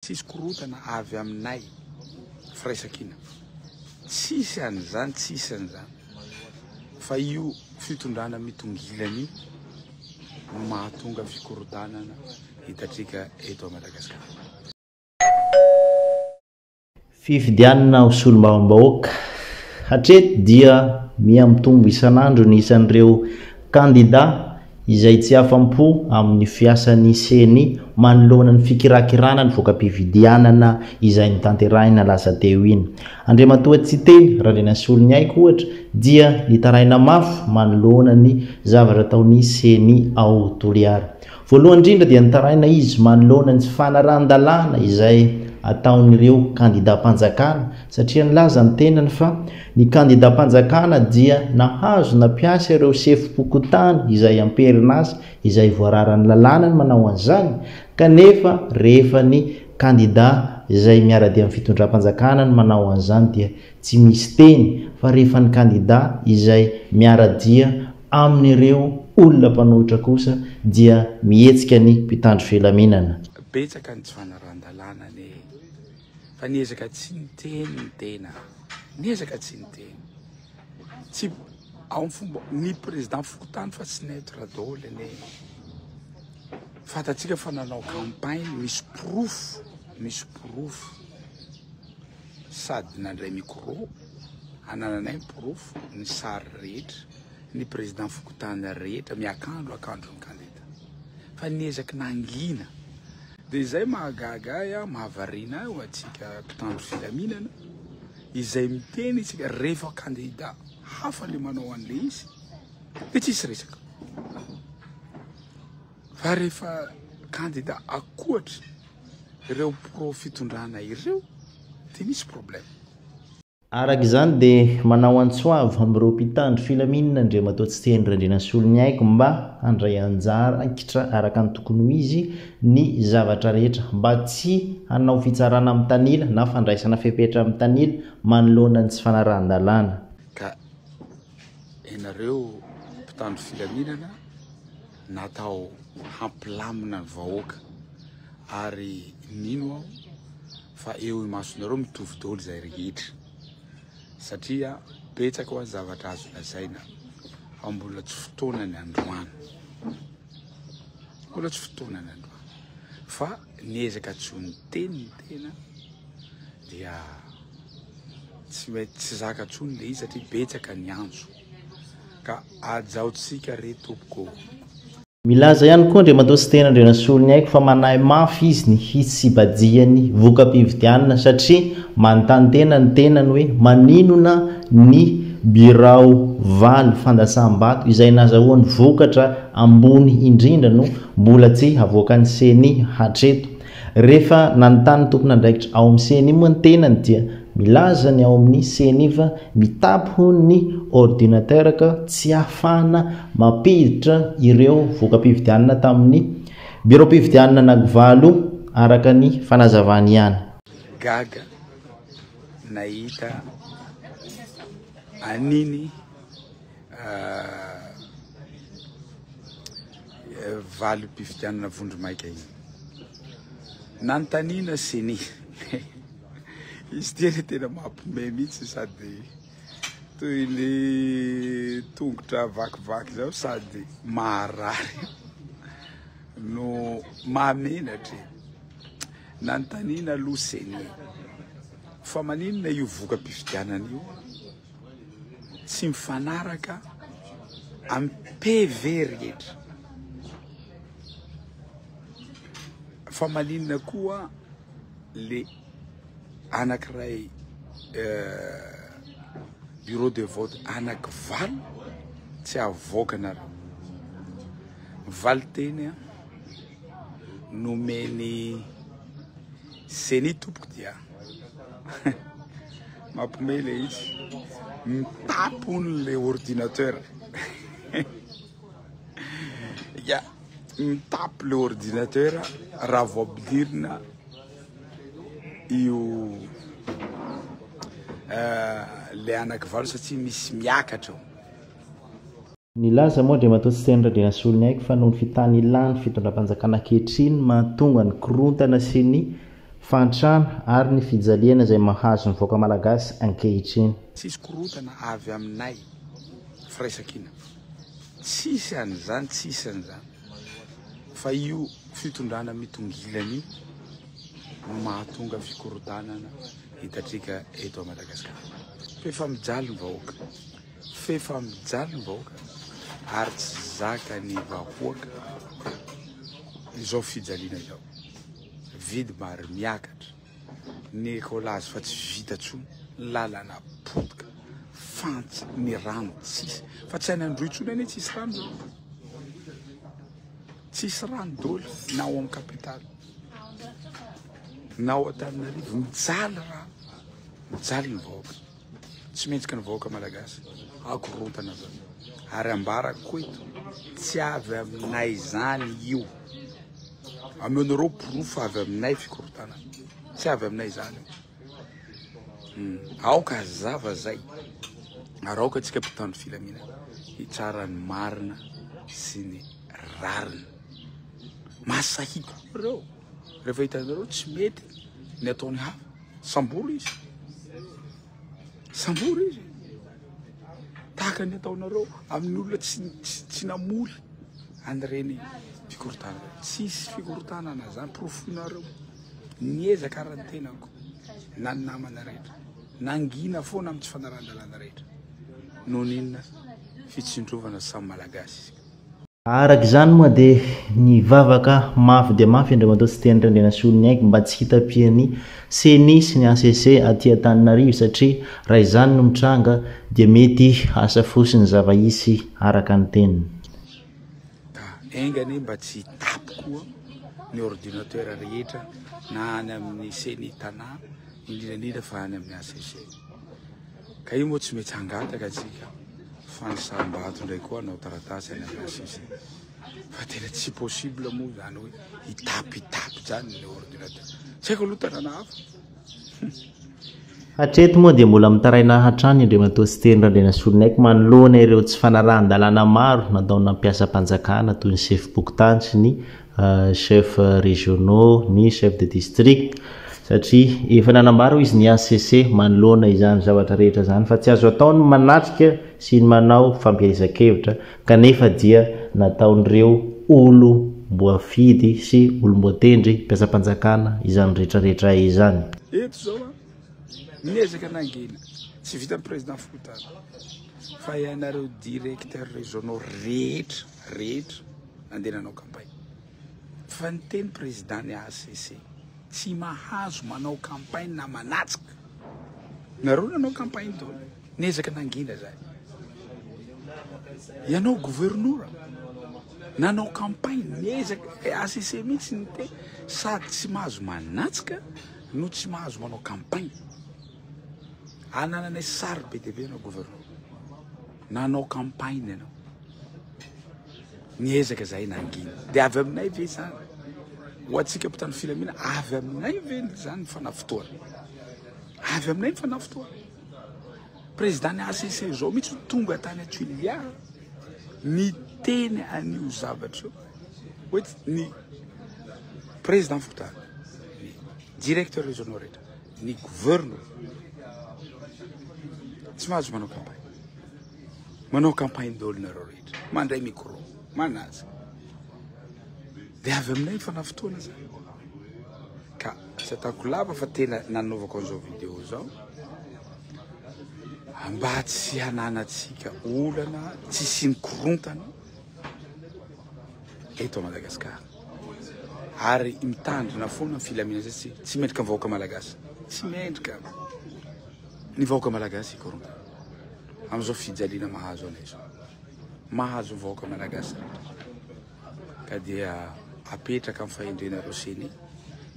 Tsisy korotana avy aminay firaisankina tsisy an'izany tsisy an'izany fa io fitondrana mitongilana io no mahatonga fikorontanana hitatrika eto Madagascar. Fifidianana ho solombavambahoaka, Hatreto dia miha mitombo isan'andro ny isan'ireo kandidà izay tsy afa-po amin'ny fiasan'ny ceni manoloana ny fikirakirana ny voka-pifidianana izay notanterahina lasa teo iny. Andriamatoa Tsiteny Randrianasoloniaiko ohatra dia nitaraina mafy manoloana ny zavatra ataon'ny ceni ao Toliara. Voalohany indrindra dia nitaraina izy manoloana ny tsy fanarahan-dalàna izay ataon'ireo kandidam-panjakana satria nilaza ny tenany fa ny kandidam-panjakana dia nahazo nampiasa ireo sefom-pokontany izay amperin'asa izay voararan'ny lalàna ny manao an'izany kanefa rehefa ny kandida izay miara-dia amin'ny fitondram-panjakana no manao an'izany dia tsy misy teny fa rehefa ny kandida izay miara-dia Amin'ireo olona mpanohitra kosa dia mihetsika ny mpitandro filaminana. Betsaka ny tsy fanarahan-dalàna anie fa ny ezaka tsy niteny ny tena, ny ezaka tsy niteny, tsy amin'ny fomba, ny président fokontany fa tsy neutre daholo anie, fantatsika fa nanao campagne, misy porofo, misy porofo. Sady nandray micro hanananay ny porofo ny sary rehetra ny président fokontany rehetra miakandro akandro ny kandida fa ny ezaky nangina dia izay mahagaga ahy aho mahavariana ahy ho antsika mpitandro filaminana izay miteny isika rehefa kandida hafa le manao an'le izy dia tsisy resaka Fa rehefa kandida akoatry ireo pro fitondrana ireo dia misy problème. Araka izany dia manao antso avo amin'ireo mpitandro filaminana Andriamatoa Tsiteny Randrianasoloniaiko mba handray anjara ankitra araka ny tokony ho izy ny zavatra rehetra mba tsy hanao fitsarana mitanila na fandraisana fepetra mitanila manoloana ny tsy fanarahan-dalàna. Ka ianareo mpitandro filaminana, natao hampilamina ny vahoaka ary mino aho fa eo imasonareo mitovy daholo izay rehetra satria betsaka ho azy zavatra azo lazaina fa mbola tsy fotoanany androany mbola tsy fotoanany androany fa ny ezaka tsy ho ny teny ny tena dia tsy mety tsy zaka tsony le izy satria betsaka ny antso ka ajaontsika re tompoko o. Milaza ihany koa Andriamatoa Siteny Randrianasoloniaiko fa manahy mafy izy ny hitsibajihan'ny voka-pifidianana satria manontany-tena ny tenany hoe maninona ny birao valo fandatsaham-bato izay nazahoany vokatra ambony indrindra no mbola tsy havoakan'ny ceni hatreto. Rehefa nanontany ny tompon'andraikitra ao amin'ny ceni moa ny tenany dia milaza ny ao amin'ny ceni fa mitapy hono ny ordinateur ka tsy ahafahana mampiditra ireo voka-pifidianana tamin'ny biraom-pifidianana anankivalo araka ny fanazavany ihany. Gaga nahita an'iny. valim-pifidianana vondromaika iny. Nanontaniana CENI. Izy ity anie tena mampime mihitsy sady toy ny tongotra vakivaky zao sady maharary no mahamenatra e. Nanontaniana aloha CENI fa maninona io voka-pifidianana io? Tsy mifanaraka amin'ny PV rehetra. Fa maninona koa le anankiray bureau de vote anaky valo tsy avoakanareo? Valinteny an, nomen'ny ceni tompoko dia Mampme le izy. Mitapon le ordinateur. ya, mitapy le ordinateur raha vao ampidirina io eh, le anakivalo satria misy miakatra ao. Nilaza moa Andriamatoa Siteny Radrinasoloniaiko fa noho ny fitanilàn'ny fitondram-panjakana ankehitriny no mahatonga ny korontana sy ny fahantrana ary ny fijaliana izay mahazo ny vahoaka malagasy ankehitriny. Tsy hisy korontana avy aminay, firaisankina. Tsisy an'izany, tsisy an'izany. Fa io fitondrana mitongilana io no mahatonga fikorontanana hitatrika eto Madagasikara. Fa efa mijaly ny vahoaka. F'efa mijaly ny vahoaka ary tsy zakan'ny vahoaka izao fijaliana izao. Vidy maro miakatra ny ekolazy fa tsy vita intsony, lalana potika, fantsy, ny rano tsisy fa tsy any Androy intsony anie tsisy rano zao. Tsisy rano doly na ao amin'ny capitale na ao Antananarivo, mijaly rano, mijaly ny vahoaka. Tsy mihetsika ny vahoaka malagasy akorontana zany ary ambarako koa eto tsy avy aminay zany io ameonareo porofo avy aminay fikorontanana tsy avy aminay zany io hmm. aoka hazava zay ary aoka atsika mpitandro filamina hitsara ny marina sy ny rariny masahiko reo Rehefa hitanareo tsy mety ny ataon'ny hafa, sambory izy. Sambory izy. Tahaka ny ataonareo amin'ny olona tsy tsy namory an'ireny fikorontanana. Tsisy fikorontanana zany porofoinareo. Niezaka aran'ny tenako na ny namana rehetra. Nangina foana amin'ny tsy fanaran-dalàna rehetra. Noho n'inona? Fitsindrovana samy malagasy. Araka izany moa dia nivavaka mafy dia mafy Andriamatoa Siteny Randrianasoloniaiko mba tsy hitapian'ny Ceni sy ny hcc aty Antananarivo satria raha izany no mitranga dia mety hasafoso ny zava-hisy araka ny teniny. Ka enga anie mba tsy hitapy koa ny ordinateur rehetra na any amin'ny Ceni Tanà indrindra indrindra fa any amin'ny hcc. Ka io moa tsy mety hangataka antsika fa ny sarimbato indray koa hanao taratasy any amin'ny HCC. Fa tena tsy possible moa izany hoe hitapitapy izany ilay ordinateur. Tsy haiko aloha tanàna hafa. Hatreto moa dia mbola mitaraina hatrany Andriamatoa Siteny Randrianasoloniaiko manoloana ireo tsy fanarahan-dalàna maro nataonà mpiasam-panjakana toy ny sefom-pokontany sy ny chef régionaux, ny chef de district satria efa nanambara hoy izy ny HCC manoloana izany zavatra rehetra izany fa tsy azo atao ny manatrika sy ny manao fampielezan-kevitra kanefa dia nataon'ireo olom-boafidy sy olom-boatendry mpiasam-panjakana izany retraretra izany. Eto izao an, ny ezaka nangina tsy vitan'ny Président fokontany fa ianareo directeurs régionaux rehetra rehetra nandeha nanao campagne fa ny teny président ny HCC tsy mahazo manao campagne na manatsika nareo nanao campagne to niezaka nangina zay ianao gouvernora nanao campagne niezaka HCC mihitsy ny te sady tsy mahazo manatsika no tsy mahazo manao campagne anananay sary be dia be ianao gouvernora Nanao campagne ianao. Niezaka zahay nangina. Dia avy aminay ve izany? Ho antsika mpitandro filaminana, avy aminay ve izany ny fanavotoana? Avy aminay ny fanavotoana. Président ny ACC izao mihitsy tonga tany Atulia niteny an'io zavatra io. Hoe ny président fokontany, directeur régionaux rehetra. ny governo tsy mahazo manao campagne manao campagne dolo nareo rehetra mandray micro manaza dia avy aminay ny fanafotoana zany ka tsy ataoko lava fa tena nanaovako an'izao video zao mba tsy hananatsika olana tsy simikorontana eto Madagascar Ary mitandrina foana ny filaminana izay tsy tsy mendrika ny vahoaka malagasy. Tsy mendrika ny vahoaka malagasy hikoronta amin'izao fijaliana mahazo anay izao. Mahazo ny vahoaka malagasy rehetra. Ka dia apetraka amin'ny fahendrenareo CENI,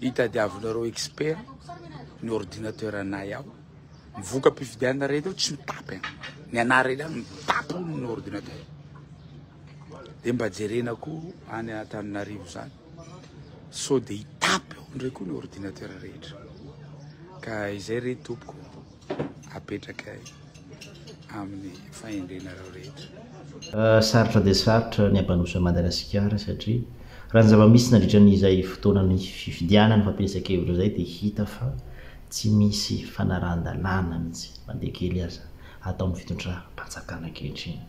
itadiavinareo expert ny ordinateur anay ao. Ny voka-pifidianana rehetra eo tsy mitapy an. Ny anarana ihany mitapy ny ordinateur. dia mba jerena koa any Antananarivo zany sao dia hitapy ao indray koa ny ordinateur rehetra ka izay re tompoko apetraka amin'ny fahendrenareo rehetra Euh, sarotra dia sarotra ny ampandroso an'i Madagasikara satria raha ny zava-misy nandritra an'izay fotoanan'ny fifidianana fampielezan-kevitra izay dia hita fa tsy misy fanarahan-dalàna mihitsy na dia kely aza ataon'ny fitondram-panjakana ankehitriny.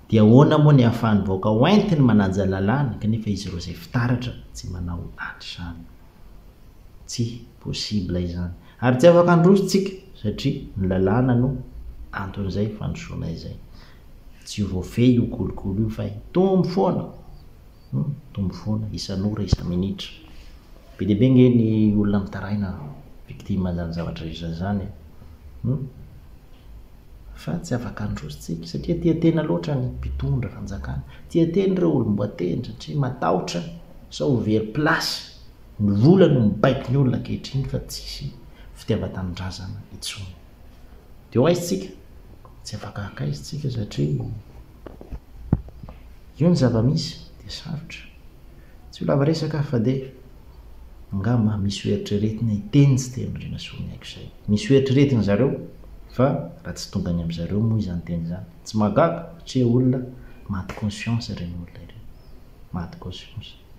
Dia ahoana moa ny ahafahan'ny vahoaka hoentiny manaja lalàna kanefa izy ireo izay fitaratra tsy manao an'izany. Tsy possible izany. Ary tsy afaka handroso tsika satria ny lalàna no anton'izay fandrosoana izay. Tsy ho voafehy io kolikoly io fa hitombo foana. Mitombo foana isan'ora, isa-minitra. Be dia be ange ny olona mitaraina victime an'izany zavatra izany izany e. Humm. Fa tsy afaka handroso tsiky satria tia tena loatra ny mpitondra fanjakana. Tia tena ireo olom-boatendry satria matahotra sao ho very place. Ny vola no mibaiko ny olona ankehitriny fa tsisy fitiavan-tanindrazana intsony. Dia ho aiza tsika? Tsy afaka haka aiza tsika satria. Io ny zava-misy dia sarotra. Tsy ho lava resaka aho fa dia angamba misy ho eritreretina hiteny tsy dia Andrianasoa ny aiko izay. Misy ho eritreretin-dry zareo fa raha tsy tonga any amin-dry zareo moa izany teny izany. Tsy mahagaga satria olona maty conscience ireny olona ireny. Maty conscience.